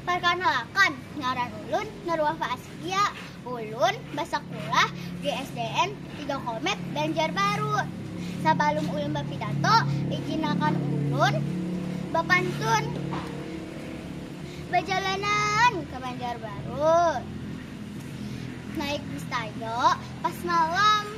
Parkanalakan, ngaran ulun Nurwah Faaskia. Ulun basakulah di SDN Tiga Komet, Banjarbaru. Sabalum ulun bapidato, ijinakan ulun bapantun. Bajalanan ka Banjarbaru, naik bis Tayo pas malam.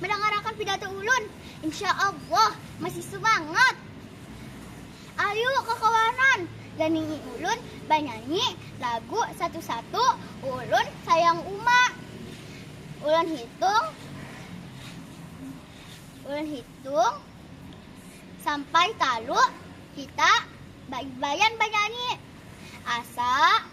Mandangarakan pidato ulun. Insya Allah masih sumangat. Ayu kakawanan ganingi ulun banyanyi lagu satu-satu ulun sayang uma. Ulun hitung ulun hitung sampai talu kita baibayan banyanyi. Asa.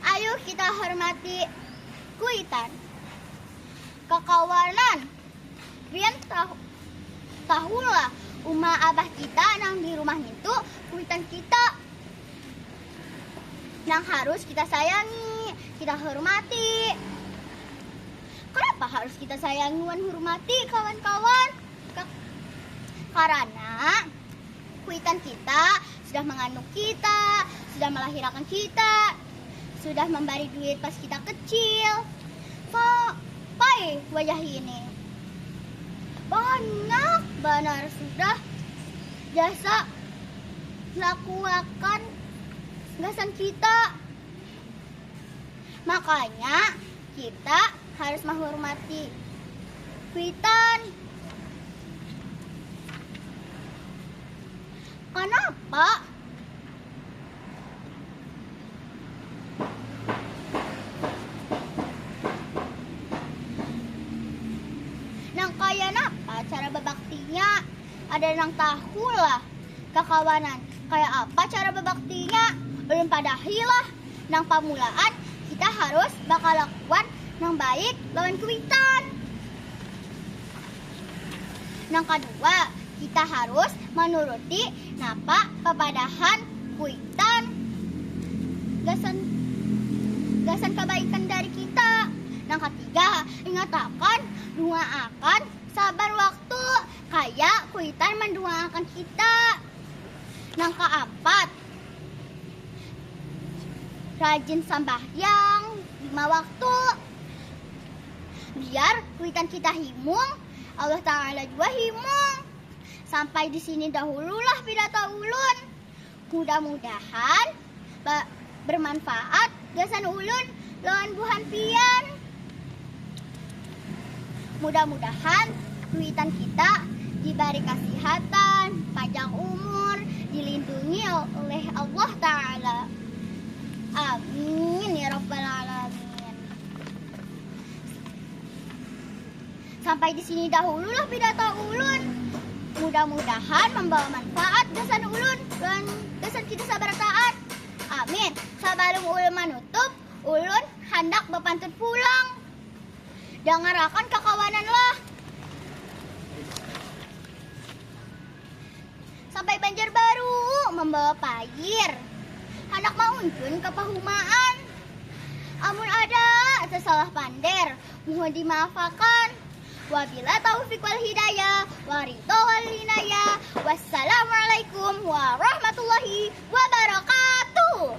Ayuh kita hormati kuitan kakawanan. Pian tahu tahulah uma abah kita nang di rumah nintu kuitan kita nang harus kita sayangi, kita hormati. Kanapa harus kita sayangi wan hurmati kawan-kawan? Ka karana. Kuitan kita sudah mangandung kita, sudah malahirakan kita, sudah mambari duit pas kita kecil. Kok pai wayah ini banyak banar sudah jasa lakuakan gasan kita. Makanya Kita harus mahurmati kuitan. Kanapa? Nang kaya napa cara babaktinya? Ada nang tahu lah kakawanan kaya apa cara bebaktinya? Ulun padahi lah, nang pamulaan kita harus bakalakuan nang baik lawan kuitan. Nang kadua, kita harus manuruti napa papadahan kuitan gasan gasan kabaikan dari kita. Nang katiga, ingatakan, dungaakan, sabar waktu. Kaya kuitan mandungakan kita. Nang kaampat, rajin sambahyang lima waktu. Biar kuitan kita himung, Allah Taala jua himung. Sampai di sini dahululah pidato ulun. Mudah mudahan ba bermanfaat gasan ulun lawan buhan pian. Mudah mudahan cuitan kita dibari kasihatan, panjang umur, dilindungi oleh Allah taala. Amin ya rabbal alamin. Sampai di sini dahulu lah pidato ulun. Mudah-mudahan membawa manfaat gasan ulun dan gasan kita sabarataan. Amin. Sabalum ulun manutup, ulun handak bapantun pulang. Dangarakan kakawanan lah. Sampai Banjarbaru mambawa pair. Handak mauncun ka pahumaan. Amun ada tasalah pander, muhun dimaafakan. Wabila taufiq wal hidayah, wa ridha wal linayah. Wassalamualaikum warahmatullahi wabarakatuh.